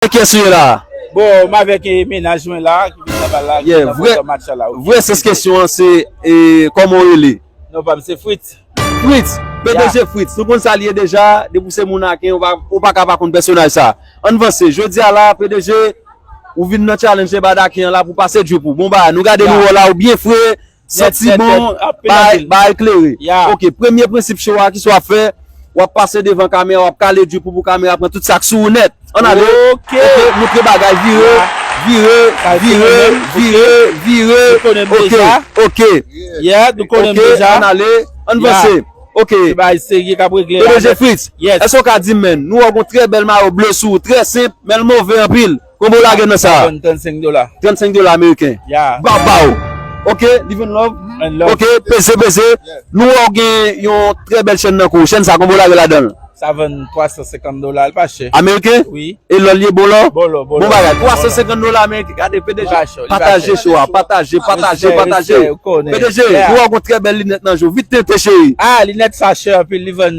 Avek kyes ou ye la a? Bon m avek menaj mwen la ki vin nan bal la ki nan botò matchala ok. Vrè sans kesyon an se Koman ou rele? Non pa m se Fritz. Fritz! Pdg Fritz nou konn sa l ye deja depi w se moun Aken ou paka pa konn pèsonaj sa. Ann vanse jodi a la a pdg ou vin nan challenge Ebad Aken an la pou pase drip ou. Bon bagay nou gade nou wè w la ou byen fre Santi bon, bagay klere. Ok, premye prensip cho a, kisa w ap fè? W ap pase devan kamera, w ap kale di pou pou kamera pran tout sa k sou ou nèt. An ale! Ok, moutre bagay, vire, vire, vire, vire, vire. Nou konnen m deja. Ok, yeah, nou konnen m deja. Ok, an ale, an vanse. Ok. Se bagay serye k ap regle la. PDG Fritz, èske w ka di m men, nou wè w gen yon trè bèl mayo ble sou ou, trè senp, men l move anpil. Konbyen w lage nan sa a? 35 dola. 35 dola ameriken. Bap ba ou. Ok, live and love. Ok, peze peze. Nou wè w gen yon trè bèl chèn nan kou ou. Chèn sa konbyen w lage ladan l? Sa vann 350 dola. L pa chè. Ameriken? Wi. E lò l ye bon lò? Bon lò, bon lò. Bon bagay. 350 dola ameriken. Gade PDG. Li pa chè. Pataje show a. Pataje, pataje, pataje. Respè, respè. Ou konnen. PDG, nou wè w gen trè bèl linèt nan je w. Vit tenten cheri. Ah, linèt sa chè anpil. Li vann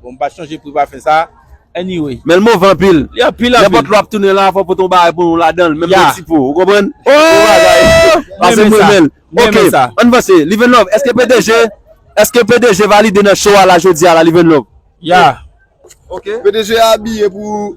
Bon m pa chanje pri pafen sa anyway. Men l move anpil. Li anpil anpil. Nenpòt lè w ap tounen la fò w pote yon bagay pou nou ladan l. Menm yon ti po. Ou konprann? Bon bagay. Pase m renmen l. Ok. Ann vanse. Livenlove, èske pdg èske pdg valide nan show a la jodi a la Livenlove? Ya. Ok. Pdg a abiye pou.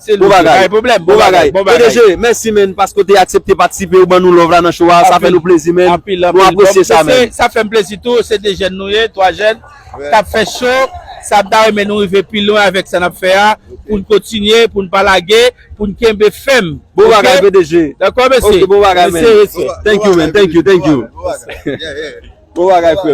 Se li ki bay pwoblèm. Bon bagay. Pdg, mèsi menn paske w te aksepte patisipe ou ban nou love la nan show a. Sa fè nou plezi menn. Nou apresye sa menn. Sa fè m plezi tou. Se 2 jèn nou ye. 3 jèn k ap fè show sa. M ta renmen nou rive pi lwen avèk sa n ap fè a. Pou n kontinye. Pou n pa lage. Pou n kenbe fèm. Bon bagay pdg. Dakò mesye? Ok bon bagay menn. Thank you menn. Thank you. Thank you. Bon bagay frè m.